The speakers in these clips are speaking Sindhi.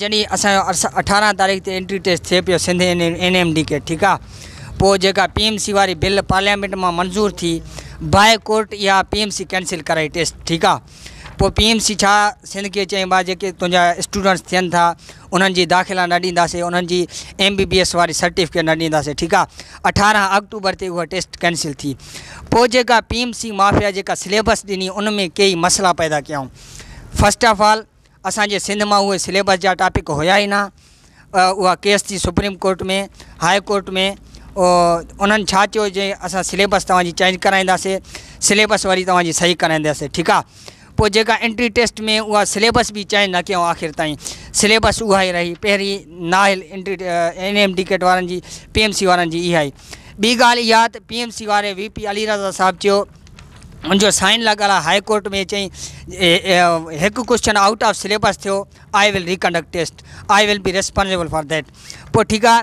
جڏهن اسان جو اٺارهن تاريخ تي انٽري ٽيسٽ ٿئي پيو سنڌ اين اين ايم ڊي ڪي ٺيڪ آ پوء جيڪا پي ايم سي واري بل پارليامينٽ مان منظور ٿي باء ڪورٽ اها پي ايم سي ڪينسل ڪرائي ٽيسٽ ٺيڪ آ پوء پي ايم سي ڇا سنڌ کي چيائين ڀاء جيڪي تنهنجا اسٽوڊنٽس ٿين ٿا انهن جي داخلا نه ڏينداسين انهن جي ايم بي بي ايس واري سرٽيفڪيٽ نه ڏينداسين ٺيڪ آ اٺارهن آڪٽوبر تي اها ٽيسٽ ڪينسل ٿي پوء جيڪا پي ايم سي مافيا جيڪا سليبس ڏني ان ۾ ڪيئي مسئلا پيدا ڪيائون فسٽ آف آل اسان جي سنڌ مان اهي سليبس جا ٽاپڪ هيا ئي نه اها ڪيس ٿي سپريم ڪورٽ ۾ هاء ڪورٽ ۾ انهن ڇا چيو جي اسان سليبس توهان جي چينج ڪرائينداسين سليبس وري توهان جي صحيح ڪرائينداسين ٺيڪ آ پوء جيڪا انٽري ٽيسٽ ۾ اها سليبس به چينج نه ڪيائون آخر تائين سليبس اها ئي رهي پهرين نااهل entry N M D CAT وارن جي پي ايم سي وارن جي اها ئي ٻي ڳالهه اها ته P M C V P Ali Raza رضا صاحب چيو ان جو سائن لڳل آهي هاء ڪورٽ ۾ چئي هڪ ڪوشچن آؤٽ آف سليبس ٿيو I will reconduct test I will be responsible for that پوء ٺيڪ آهي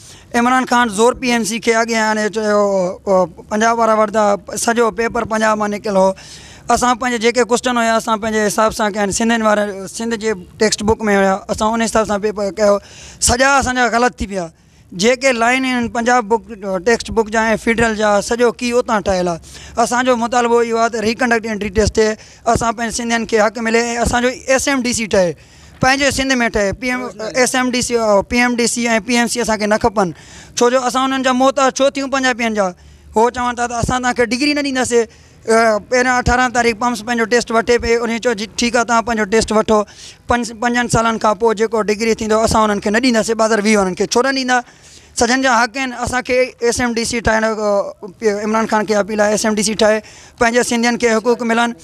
عمران خان زور پي اين سي کي اڳيان آڻي چيو پنجاب وارا وردا سڄو پيپر پنجاب مان نڪتل هو اسان پنهنجي جيڪي ڪوسٽن هيا اسان پنهنجي حساب سان ڪيا سنڌين وارا سنڌ جي ٽيڪسٽ بوڪ ۾ هيا اسان ان حساب سان پيپر ڪيو سڄا اسانجا غلط ٿي ويا جيڪي لائين آهن پنجاب بوڪ ٽيڪسٽ بوڪ جا فيڊرل جا سڄو ڪي اتان ٺهيل آ اسانجو مطالبو اهو آ ته ريڪنڊڪٽ انٽري ٽيسٽ اسان پنهنجي سنڌين کي حق ملي اسانجو ايس ايم ڊي سي ٺهي پنهنجي سنڌ ۾ ٺهي P M S M D C P M D C ۽ P M C اسانکي نه کپن ڇو جو اسان انهن جا محتاج ڇو ٿيون پنجابين جا هو چون ٿا ته اسان تنهنکي ڊگري نه ڏينداسي پهريان اٺارهن تاريخ پمس پنهنجو ٽيسٽ وٺي پئي انهي چيو جي ٺيڪ آهي تنهن پنهنجو ٽيسٽ وٺو پنج پنجن سالن کان پوء جيڪو ڊگري ٿيندو اسان انهن کي نه ڏينداسي بازار ويهه وارن کي ڇو نه ڏيندا سڄن جا حق آهن اسانکي ايس ايم ڊي سي ٺاهڻ عمران خان کي اپيل آهي ايس ايم ڊي سي ٺاهي پنهنجي سنڌين کي حقوق ملن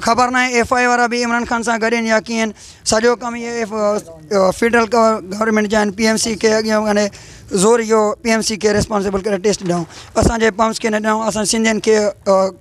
خبر ناهي ايف آء اي وارا به عمران خان سان گڏ آهن يا ڪيئن سڄو ڪم هي ايف فيڊرل گورنمينٽ جا آهن پي ايم سي کي اڳيان هني زور اهو پي ايم سي کي ريسپانسبل ڪري ٽيسٽ ڏيون اسانجي پمپس کي نه ڏيون اسان سنڌين کي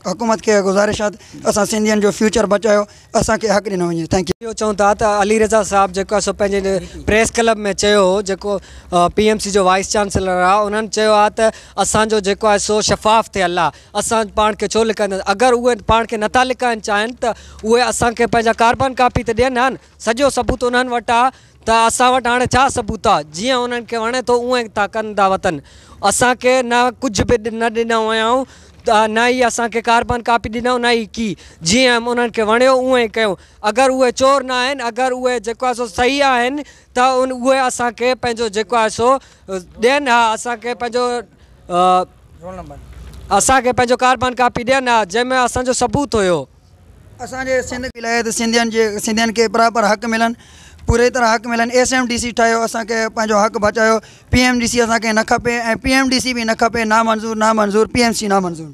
حڪومت کي گذارش آهي ته اسان سنڌين جو فيوچر بچايو اسانکي حق ڏنو وڃي ٿينڪ يو اهو چئون ٿا ته علي رضا صاحب جيڪو آهي سو پنهنجي پريس ڪلب ۾ چيو هو جيڪو پي ايم سي جو وائيس چانسلر آهي انهن چيو آهي ته اسانجو جيڪو آهي سو شفاف ٿيل آهي اسان پاڻ کي ڇو لڪائينداسين؟ اگر اهي پاڻ کي نٿا لڪائڻ چاهين ته اهي اسان کي پنهنجا ڪاربان ڪاپي ته ڏين ها نه. سڄو ثبوت انهن وٽ آ ته اسان وٽ هاڻي ڇا ثبوت آ. جيئن انهن کي وڻي ٿو اونئن ٿا ڪن ٿا وتن. اسان کي نه ڪجهه به نه ڏنو هيائون ته نه ئي اسان کي ڪاربان ڪاپي ڏنائون نه ئي ڪي. جيئن انهن کي وڻيو اونئن ئي ڪيو. اگر اهي چور نه آهن اگر اهي جيڪو آهي سو صحيح آهن ته اهي اسان کي پنهنجو جيڪو آهي سو ڏين ها اسان کي پنهنجو اسان کي پنهنجو ڪاربان ڪاپي ڏين ها جنهن ۾ اسان جو ثبوت هيو. اسان جي سنڌ ولايت سنڌين جي سنڌين کي پراپر حق ملن پوري طرح حق ملن ايس ايم ڊي سي ٺاهيو اسان کي پنهنجو حق بچايو پي ايم ڊي سي اسان کي نه کپي ۽ پي ايم ڊي سي به نه کپي نامنظور نامنظور پي ايم سي نامنظور.